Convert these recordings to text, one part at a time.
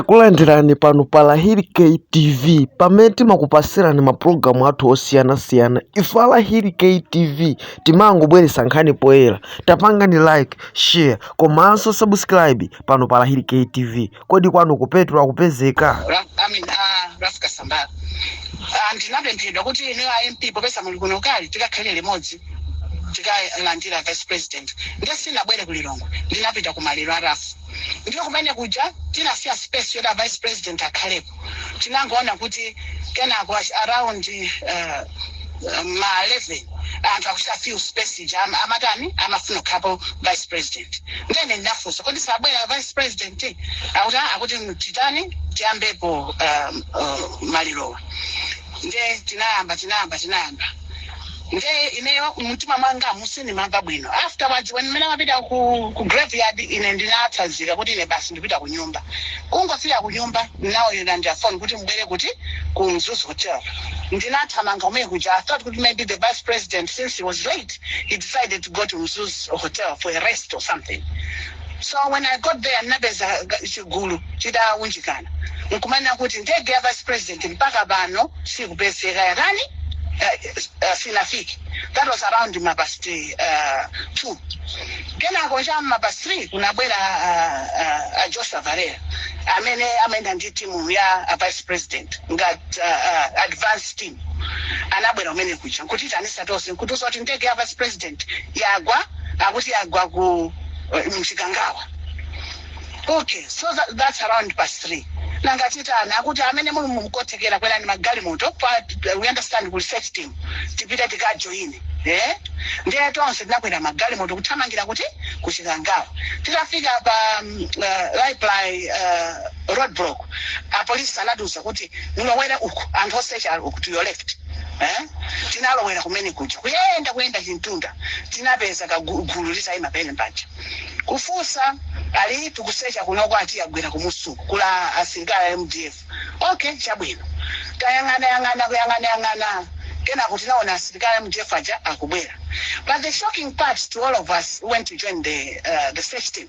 Takulandirani pano pa Lahiri K TV pamene timakupasirani mapulogalamu athu osiyanasiyana. Ife a Lahiri K TV timangobweretsa nkhani poyera. Tapangani like, share komanso subscribe pano pa Lahiri K TV. Kodi kwanu ku petrol akupezeka? Ra- I mean, uh, Ralph Kasambara Ah, anandipempha kuti ine a MP popeza muli kuno kali tikakhale limodzi tikalandire vice president ndiye sindinabwere ku Lilongwe ndinapita ku maliro a Ralph ndiye kumene kuja tinasiya space yoti a vice president akhalepo tinangoona kuti kenako as- around uh, ma 11 anthu akuchita fill space ija am- amatani amafuna kukhalapo vice president nde ine ndinafunsa kodi sabwera vice president akuti "Ah, akuti titani tiyambepo um, uh, malirowa nde tinayamba tinayamba tinayamba nde ineyo mumtima mwangamu sindimamva bwino afterwards when mmene amapita ku, ku graveyard ine ndinatsanzika kuti ine basi ndipita ku nyumba kungofika ku nyumba anandiimbiranso phone kuti mbwere kuti ku mzuzu hotel ndinathamanga kumene kuja i thought kuti maybe the vice president since he was late he decided to go to mzuzu hotel for a rest or something So when I got there ndinapeza ga- chigulu chitaunjikana akumanena kuti ndege ya vice president mpaka pano sikupezeka yakani uh, uh, sinafike that was around mapasti uh, two kenako cha mapast three kunabwera uh, uh, uh, joshua valera amene amayenda ndi timu ya uh, vice president ngati uh, uh, advance team anabwera kumene kuja nkuti tonsefe nkutiuza zoti ndege ya vice president yagwa akuti yagwa ku eh, muchikangawa okay so that, that's around past three nanga titani akuti amene muli ndi kuthekera kwerani magalimoto pa we understand kuli search team tipite tikajoine eh ndiye tonse tinakwera magalimoto kuthamangira kuti kuchikangawa titafika pa um, uh, raiply uh, road block a police anatiuza kuti mulowere uku anthu osecha ali uku to your left eh? tinalowera kumene kuja kuyenda kuyenda chintunda tinapeza kagulu katayima pena paja kufunsa ati tikusecha kunoko ati agwera kumusiku kuli asilikali a mdf okay chabwino tayang'ana yang'ana kuyang'ana yang'ana kenako tinaona asilikali a mdf aja akubwera but the shocking part to all of us who went to join the, uh, the search team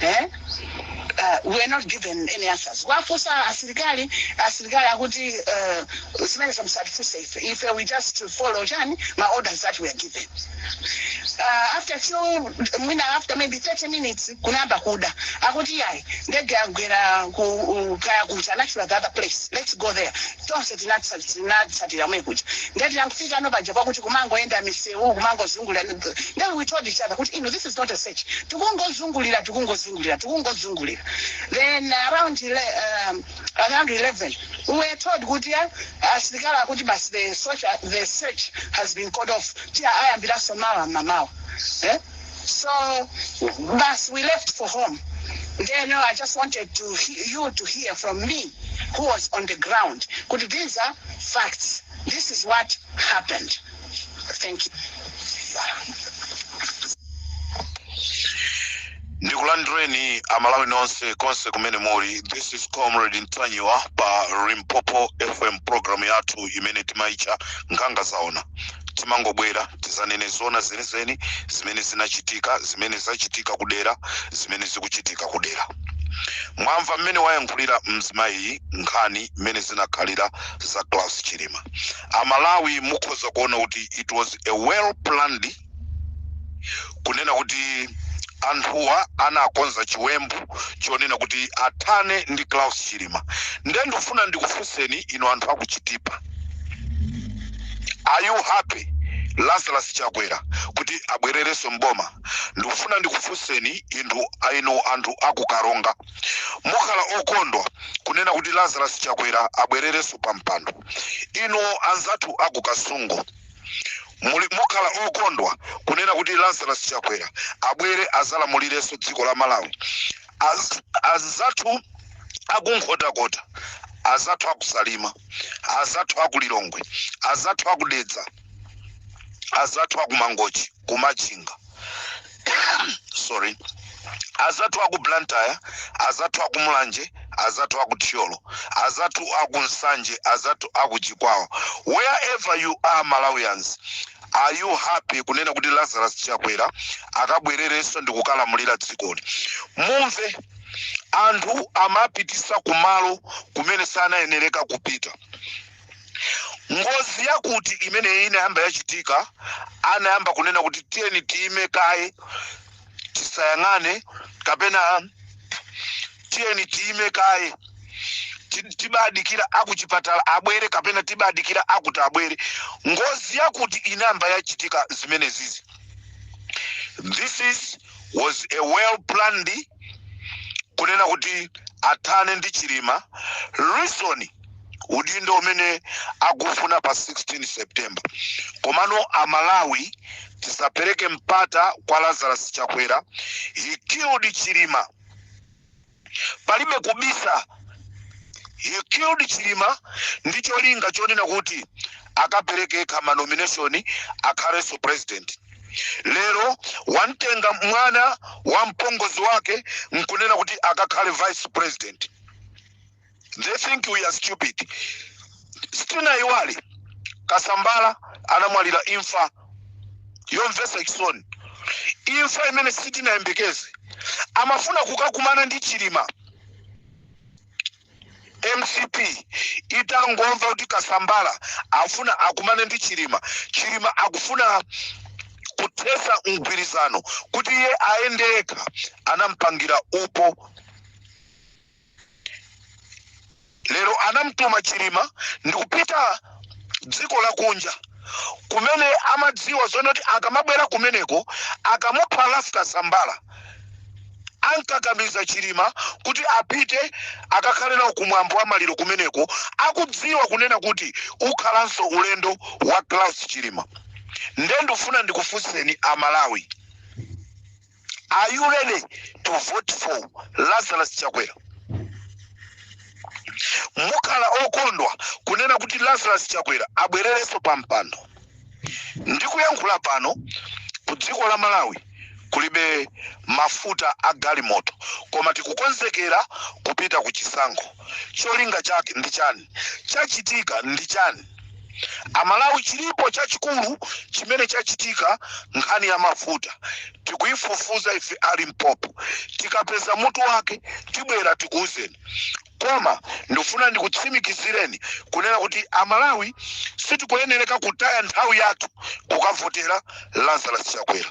eh? uh, were not given any answers kuwafunsa asilikali asilikali akuti uh, zimenezo musatifunse ife we just follow chani ma orders that we are given uh, after a few mwina after maybe 30 minutes kunayamba kuda akuti yayi ndege yagwera ku- u- kaya kuchani the other place let's go there tonse tinatsa tinatsatira kumene kuja ndiye tinangofikano paja pakuti kumangoyenda misewu kumangozungulira then we told each other kuti no this is not a search tikungozungulira tikungozungulira tikungozungulira then around ele, um, around 11 we were told kuti eh, asilikali akuti basi the search, the search has been called off tiyambiranso mawa mamawa eh? so basi we left for home then no, i just wanted to he- you to hear from me who was on the ground kuti these are facts this is what happened thank you ndikulandireni amalawi nonse konse kumene muli this is comrade ntanyiwa pa limpopo fm programu yathu imene timaitcha nkhanga zaona timangobwera tizanene zona zenizeni zimene zinachitika zimene zachitika kudera zimene zikuchitika kudera mwamva mmene wayankhulira mzimayi nkhani mmene zinakhalira za klaus chilima amalawi mukhoza kuona kuti it was a well planned kunena kuti anthuwa anakonza chiwembu chonena kuti athane ndi Klaus Chilima nde ndikufuna ndikufunseni inu anthu akuchitipa are you happy Lazarus Chakwera kuti abwererenso mboma ndikufuna ndikufunseni anthu inu anthu akukaronga mukhala okondwa kunena kuti Lazarus Chakwera abwererenso pa mpando inu anzathu akukasungu muli mukhala okondwa kunena kuti lazarus chakwera abwere azalamulirenso dziko la malawi Az- azathu akunkhotakota azathu akusalima azathu akulilongwe azathu akudedza azathu akumangochi ku machinga sorry azathu aku blantyre azathu aku mulanje azathu aku thyolo azathu aku nsanje azathu aku chikwawa wherever you are malawians are you happy kunena kuti lazarus chakwera akabwererenso ndi kukalamulira dzikoli mumve anthu amapitisa kumalo kumene sanayenereka kupita ngozi yakuti imeneyi inayamba yachitika anayamba kunena kuti tiyeni tiyime kaye tisayang'ane kapena tiyeni tiyime kaye ti- tibadikira akuchipatala abwere kapena tibadikira akuti abwere ngozi yakuti inayamba yachitika zimenezizi this is was a well planned kunena kuti athane ndi chilima reason udindo umene akufuna pa 16 september komano amalawi tisapereke mpata kwa lazarus chakwera he killed chilima palibe kubisa he killed chilima ndi cholinga chonena kuti akapereke yekha ma nomination akhalenso president lero wamtenga mwana wa mpongozi wake nkunena kuti akakhale vice president they think we are stupid sitinaiwale kasambara anamwalira imfa yomvesa chisoni imfa imene sitinayembekeze amafuna kukakumana ndi chilima mcp itangomva kuti kasambara afuna akumane ndi chilima chilima akufuna kuthesa mgwirizano kuti iye ayende yekha anampangira upo lero anamtuma chilima ndikupita dziko lakunja kumene amadziwa zonena kuti akamabwera kumeneko akamupha ralph kasambara ankakamiza chilima kuti apite akakhale nawo kumwambo wa maliro kumeneko akudziwa kunena kuti ukhalanso ulendo wa klaus chilima nde ndifuna ndikufunseni amalawi Are you ready to vote for Lazarus Chakwera? Mukhala okondwa kunena kuti Lazarus Chakwera abwererenso pa mpando. Ndikuyankhula pano ku dziko la Malawi kulibe mafuta a galimoto koma tikukonzekera kupita ku chisankho. Cholinga chake ndi chani? Chachitika ndi chani? amalawi chilipo chachikulu chimene chachitika nkhani ya mafuta tikuifufuza ife a limpopo tikapeza mutu wake tibwera tikuuzeni koma ndikufuna ndikutsimikizireni kunena kuti amalawi sitikuyenereka kutaya nthawi yathu kukavotera lazarus chakwera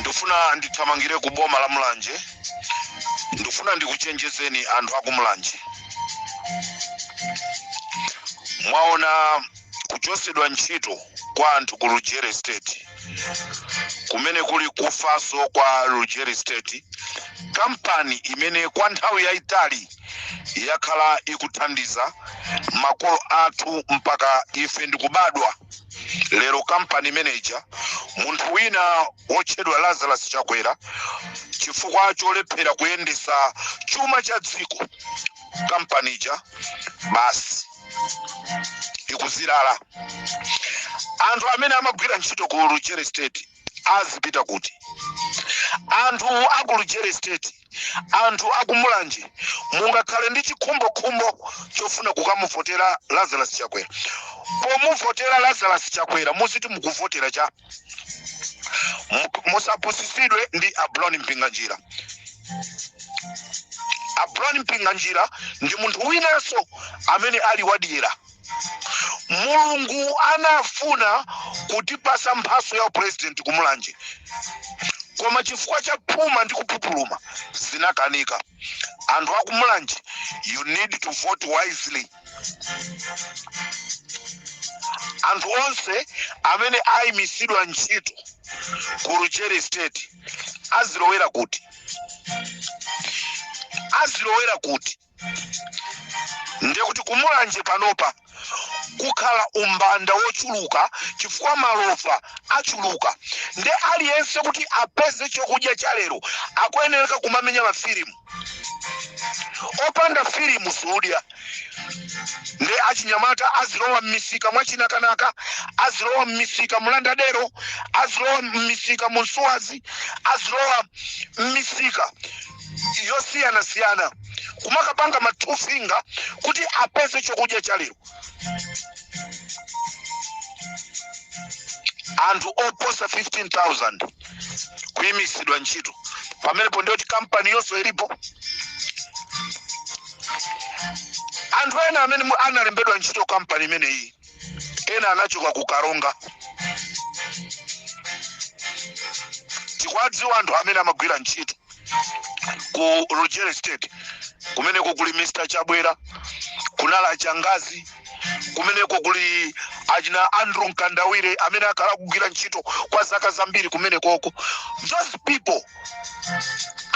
ndifuna ndithamangire ku boma la mulanje ndifuna ndikuchenjezeni anthu aku mulanje mwaona kuchotsedwa ntchito kwa anthu ku lujeri estate kumene kuli kufanso kwa lujeri estate kampani imene kwa nthawi yayitali yakhala ikuthandiza makolo athu mpaka ife ndikubadwa lero kampani manager munthu wina wotchedwa lazarus chakwera chifukwa cholephera kuyendesa chuma cha dziko kampani ija basi ikuzilala anthu amene amagwira ntchito ku lujeri estate azipita kuti anthu a ku lujeri estate anthu a ku mulanje mungakhale ndi chikhumbokhumbo chofuna kukamuvotera lazarus chakwera pomuvotera lazarus chakwera muziti mukuvotera cha Mu- musapusitsidwe ndi a brown mpinganjira a brown mpinganjira ndi munthu winanso amene ali wadyera mulungu anafuna kutipasa mphaso ya upresident kumulanje koma chifukwa cha phuma ndi kupupuluma zinakanika anthu akumulanje you need to vote wisely anthu onse amene aimisidwa ntchito ku Lujeri estate azilowera kuti azilowera kuti ndiye kuti kumulanje panopa kukhala umbanda wochuluka chifukwa malova achuluka nde aliyense kuti apeze chokudya cha lero akuyenereka kumamenya mafilimu opanda filimu siudya nde achinyamata azilowa mmisika mwachinakanaka azilowa mmisika mulandadero azilowa mmisika munsuwazi azilowa mmisika yosiyanasiyana kumakapanga ma two finger kuti apeze chokudya cha lero anthu oposa 15000 kuyimitsidwa ntchito pamenepo ndiyoti kampani yonse ilipo anthu ena amene mu- analembedwa ntchito kampani imeneyi ena anachoka ku karonga tikuwadziwa anthu amene amagwira ntchito ku lujeri estate kumeneko kuli mr chabwera kunala changazi kumeneko kuli achina andrew mkandawire amene akhala kugwira ntchito kwa zaka zambiri kumenekoko those people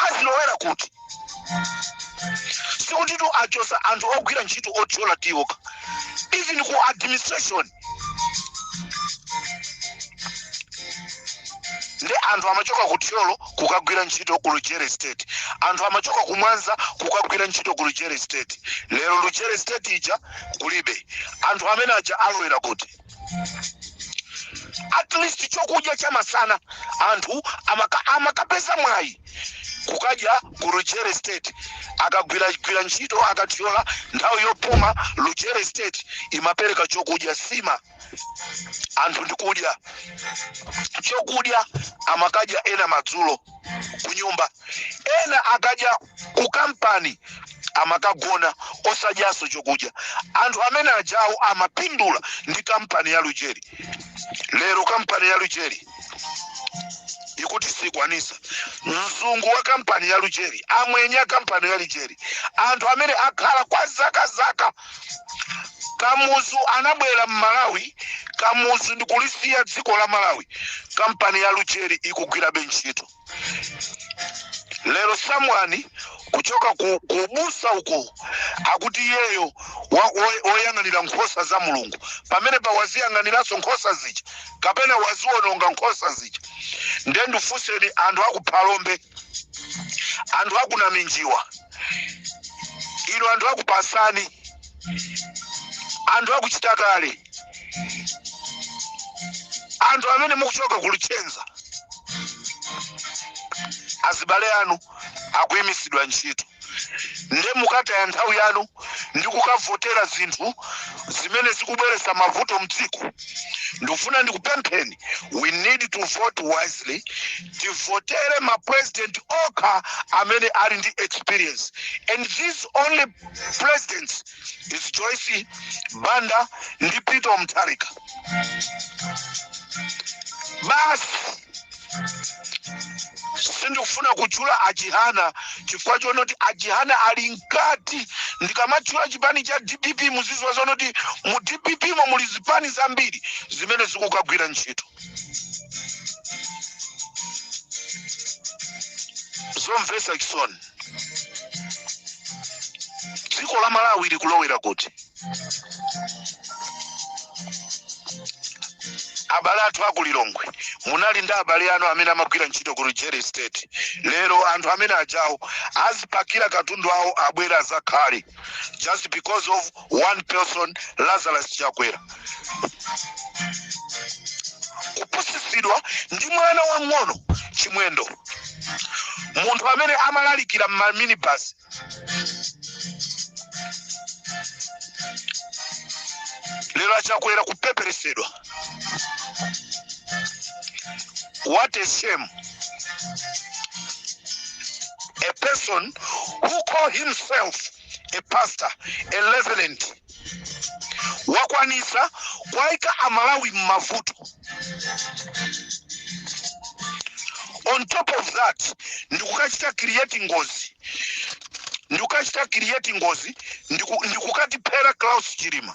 azilowera kuti sikutitu achosa anthu ogwira ntchito othyola tiyi okha even ku administration ndi anthu amachoka ku thyolo kukagwira ntchito ku lujeri estate anthu amachoka ku mwanza kukagwira ntchito ku lujeri estate lero lujeri estate ija kulibe anthu amene aja alowera kuti at least chokudya cha masana anthu amaka- amakapeza mwayi kukadya ku lujeri estate akagwira gwira ntchito akatyola nthawi yopuma lujeri estate imapereka chokudya nsima anthu ndikudya chokudya amakadya ena madzulo kunyumba ena akadya ku kampani amakagona osadyanso chokudya anthu amene ajawo amapindula ndi kampani ya lujeri lero kampani ya lujeri ikuti sikwanisa mzungu wa kampani ya lujeri amwenye kampani ya lujeri anthu amene akhala kwa zaka zaka kamuzu anabwera mmalawi kamuzu ndikulisiya dziko la malawi kampani ya lujeri ikugwirabe ntchito lero someone kuchoka ku, kuubusa uko akuti iyeyo wa- wo- woyang'anira nkhosa za mulungu pamenepa waziyang'aniranso nkhosa zija kapena waziwononga nkhosa zija nde ndifunseni anthu akuphalombe anthu akunaminjiwa inu anthu akupasani anthu akuchitakale anthu amene mukuchoka kulitchenza azibale anu akuyimisidwa ntchito nde mukataya nthawi yanu ndi kukavotera zinthu zimene zikubweretsa mavuto mdziko ndikufuna ndikupempheni we need to vote wisely tivotere ma president okha amene ali ndi experience and these only presidents is Joyce Banda ndi Peter Mutharika. Basi sindikufuna kutchula achihana chifukwa chonoti achihana ali mkati ndikamatchula chipani cha dpp muziziwa zonoti mu dpp mo muli zipani zambiri zimene zikukagwira ntchito zomvesa chisoni dziko la malawi likulowera kuti abale athu aku lilongwe munali ndi abale anu amene amagwira ntchito ku lujeri estate lero anthu amene ajawo azipakira katundu awo abwera azakhale just because of one person lazarus chakwera kupusitsidwa ndi mwana wang'ono chimwendo munthu amene amalalikira mmaminibus lero achakwera kupeperesedwa What a shame. A person who call himself a pastor, a reverend, wakwanitsa kuwaika aMalawi mmavuto on top of that ndikukachita create ngozi ndikukatiphera Klaus Chilima